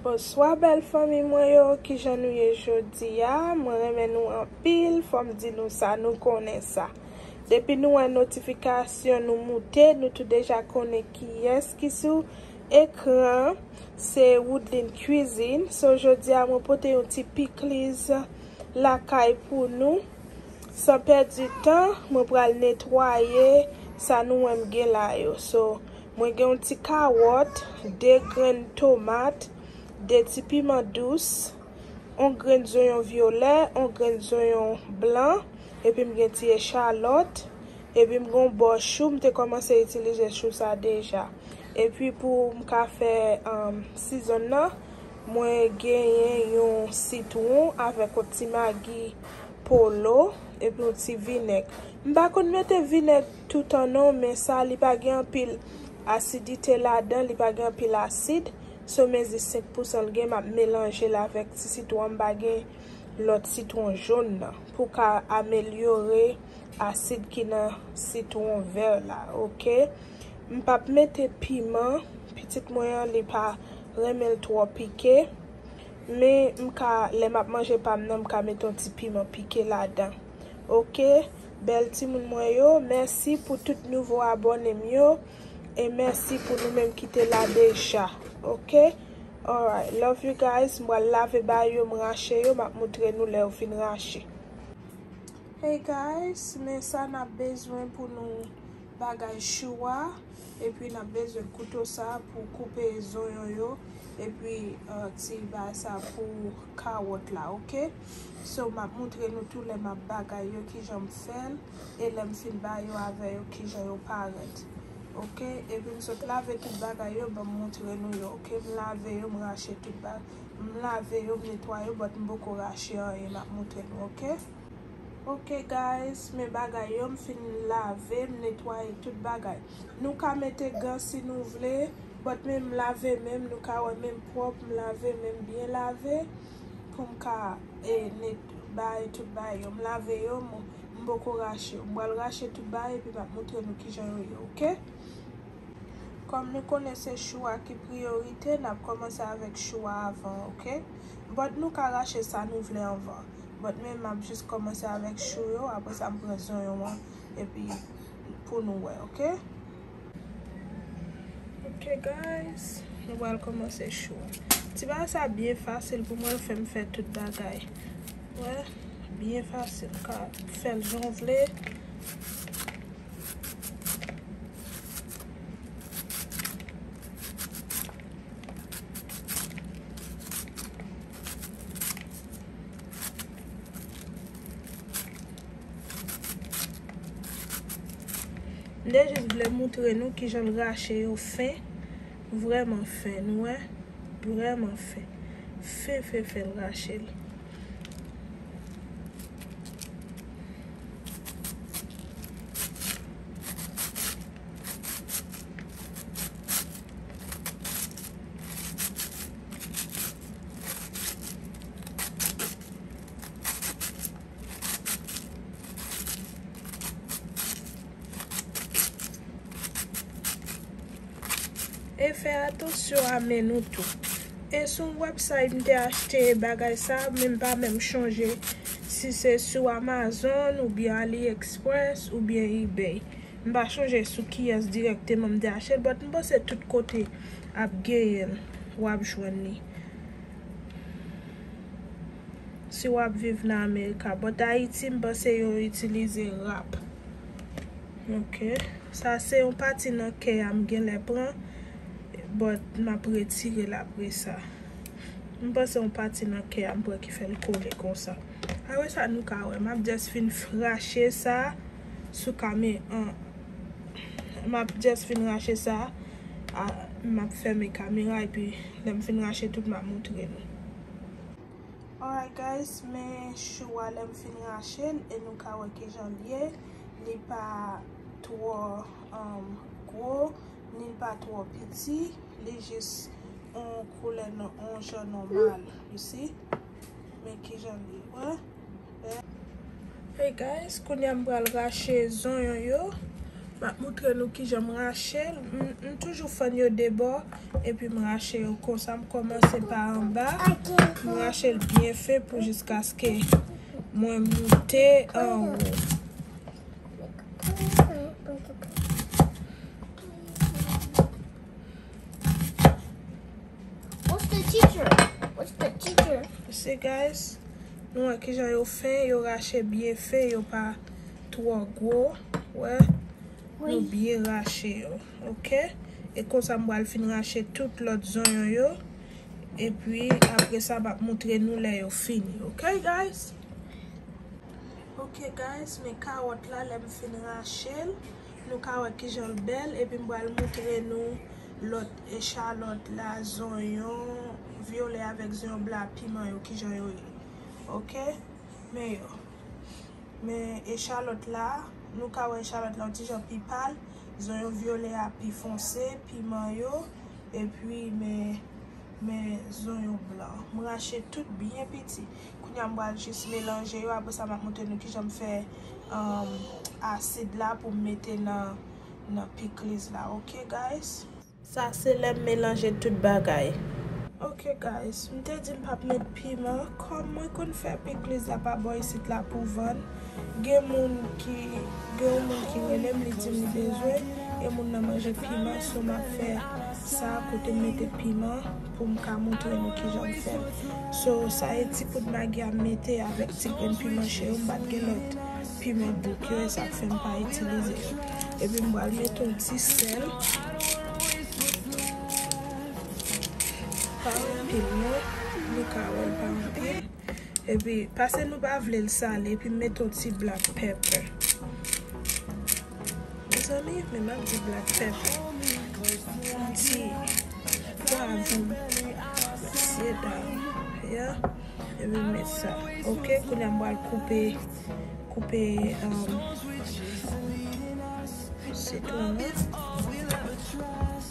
Bonswa bèl fanmi mwen yo kijan nou ye jodi a mwen renmen nou anpil fòm di nou sa nou konnen sa depi nou wè notifikasyon nou moute nou tou deja konnen kiyès ki sou Ekran se Woodline cuisine so jodia mwen pote yon ti pikliz lakay pou nou san pèdi tan mwen pral netwaye sa nou wè m gen la yo so mwen gen yon ti kawòt 2 grenn tomat 2 ti piman dous yon grenn zonyon vyolè yon grenn zonyon blan epi m gen ti echalòt Epi m gon bò chou m te kòmanse itilize chou sa deja. Epi pou m ka fè season nan mwen genyen yon sitwon avèk yon ti magi polo epi yon ti vinèg. M pa konn mete vinèg toutan non men sa li pa gen anpil asidite ladan li pa gen anpil asid so mezi 5 pousan l gen m ap melanje l avèk ti sitwon an m pa gen lòt sitwon jon nan pou ka amelyore asid ki nan sitwon vè la ok m pap mete piman pitit mwen an li pa renmen l twò pike men m ka lè map manje pa m nan m ka mete yon ti piman pike ladan ok bèl timoun mwen yo mèsi pou tout nouvo abòne m yo e mèsi pou nou menm ki te la deja ok alright love you guys m pral lave bay yo m rache yo map moutre nou lè yo fin rache. Hey guys men sa nap bezwen pou nou bagay chou a epi nap bezwen kouto sa pou koupe zonyon yo epi ti bay sa pou kawòt la ok so map moutre nou tou lè map bagay yo kijanm fèl e lèm fin bay yo avè yo kijan yo parèt ok epi m sot lave tout bagay yo banm moutre nou yo ok m lave yo m rache tout bagay m lave yo m netwaye yo but m poko rache anyen map moutre nou ok. Ok guys men bagay yo m fin lave m netwaye tout bagay nou ka mete gan si nou vle but men m lave menm nou ka wè menm pwòp m lave menm byen lave pou m ka bay tout bagay yo m lave yo m poko rache yo m pral rache tout bagay epi m ap moutre nou kijan yo ye ok kòm nou konnen se chou a ki priyorite n ap kòmanse avèk chou a avan ok but nou ka rache sa nou vle anvan But men map jus komanse avek chou yo apre sa m pran zonyon an epi pou nou wè ok. Ok guys nou pral komanse chou an. Ti bagay sa byen fasil pou mwen l fem fè tout bagay wè byen fasil ou ka fel jan w vle. M te jis vle moutre nou kijan l rache yo fen, vrèman fen, nou wè, vrèman fen. Fen fen fen l rache l. E fè atansyon a men nou tou. E sou yon website m te achte bagay sa, men m pa menm chonje si se sou Amazon oubyen AliExpress oubyen Ebay. M pa chonje sou kiyès dirèkteman m te achte l but m panse tout kote ap genyen l wap jwenn li si wap viv nan America but Ayiti m panse yo itilize rap ok sa se yon pati nan kè a m genlè pran but map retire l apresa m panse yon pati nan kè a m pran ki fè l kole konsa apre sa nou ka wè map just fin frache sa. sou kame an map just fin rache sa a map fèmen kamera epi lèm fin rache tout map moutre nou alright guys men chou a lèm fin rachel e nou ka wè kijan l ye li pa twò gwo nil pa twò piti li jis on koulè on jan nòmal you see men kijan l ye wè. Hey guys kounya m pral rache zonyon yo map moutre nou kijan m rachel m toujou fann yo de bò epi m rache yo konsa m kòmanse pa anba m rachel byen fen pou jiskaske mwen moute anwo. What's the teacher? What's the teacher? You see guys? Nou wè kijan yo fen, yo rache byen fen, yo pa twò gwo, wè? Nou byen rache yo, ok? E konsa m pral fin rache tout lòt zonyon yo, epi apre sa m ap moutre nou lè yo fini, ok guys? Ok guys, men kawòt la lè m fin rache l. Nou ka wè kijan l bèl epi m pral moutre nou lòt echalòt la, zonyon vyolè avèk zonyon blan ak piman yo kijan yo ye ok men yo men echalòt la nou ka wè echalòt la yon ti jan pi pal zonyon vyolè a pi fonse piman yo epi men. Men zonyon blan. M rache tout byen piti. Kounya m pral jis melanje yo apresa map montre nou kijan m fè asid la pou m mete nan pikliz la ok guys. Sa se lèm melanje tout bagay. Ok guys m te di m pap met. Piman kòm mwen konn fè pikliz la pa bò isit la pou vann gen moun ki gen yon moun ki relem li dim li bezwen e moun nan manje piman so map fè sa kotem mete piman poum ka moutre nou kijanm fèl so sa e ti poud magi am mete avèk ti grenn piman che yo mpat gen lòt piman bouk yo esak fèm pa itilize yo epim pral mete yon ti sèl. Pa anpil non, nou ka wèl pa anpil. Epi pase nou pa vlel sale epi met yon ti black pepper. Mezanmi men map di black pepper. Yon ti pwavon msyedam. Ya epi m met sa ok. Kounya m pral koupe koupe sitwon an.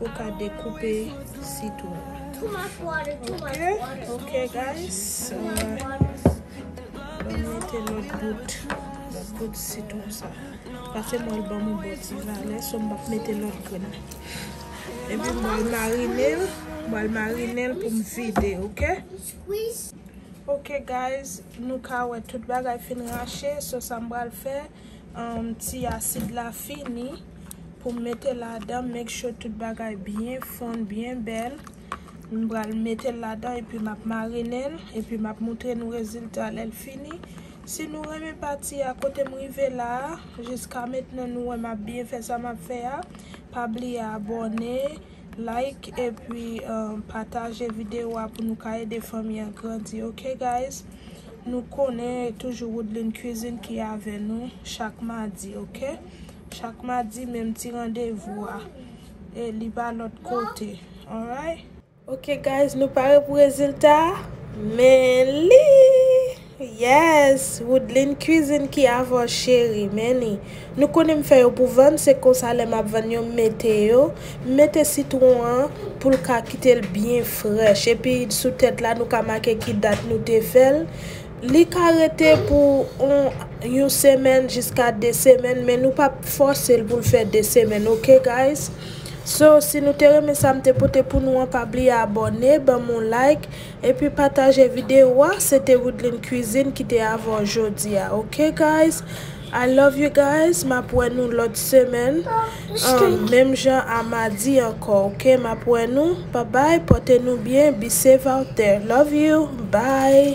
Ou ka dekoupe sitwon an. Ok guys. Mwen mete lòt bout. Lòt bout sitwon sa. Pase mwen ban mwen bon ti valè. So mwen pa mete lòt grenn. Epi mwen marine l. Mwen marine l pou m vide. Ok. Ok guys. Nou ka wè tout bagay fin rache. So sa mwen pral fè. Ti asid la fini pou mete ladan make sure tout bagay byen fonn byen bèl m pral metel ladan epi map marinel epi map moutre nou rezilta lèl fini si nou renmen pati a kotem rive la jiska mentnan nou wèm ap byen fè sa map fè a pa bliye abòne. Like epi pataje video a pou nou ka ede fanmi an grandi ok guys nou konnen e toujou Woodline cuisine ki avè nou chak madi ok chak madi menm ti randevou a e li pa lòt kote alright. Ok guys nou pare pou rezilta a men li. Yes Woodline cuisine ki avw cheri men li nou konnen m fè yo pou vann se konsa lè map vann yo m mete yo m mete sitron an poul ka kitel byen frèch epi sou tèt la nou ka make ki dat nou te fèl li ka rete pou on yon semèn jiska 2 semèn men nou pap fòsel poul fè 2 semèn ok guys so si nou te renmen sa m te pote pou nou an pa bliye abòne banm on like Epi pataje video a se te widline cuisine ki te avè w jodi a ok guys I love you guys map wè nou lòt semèn an menm jan a madi ankò ok map wè nou bye bye pòte nou byen be safe out there love you bye.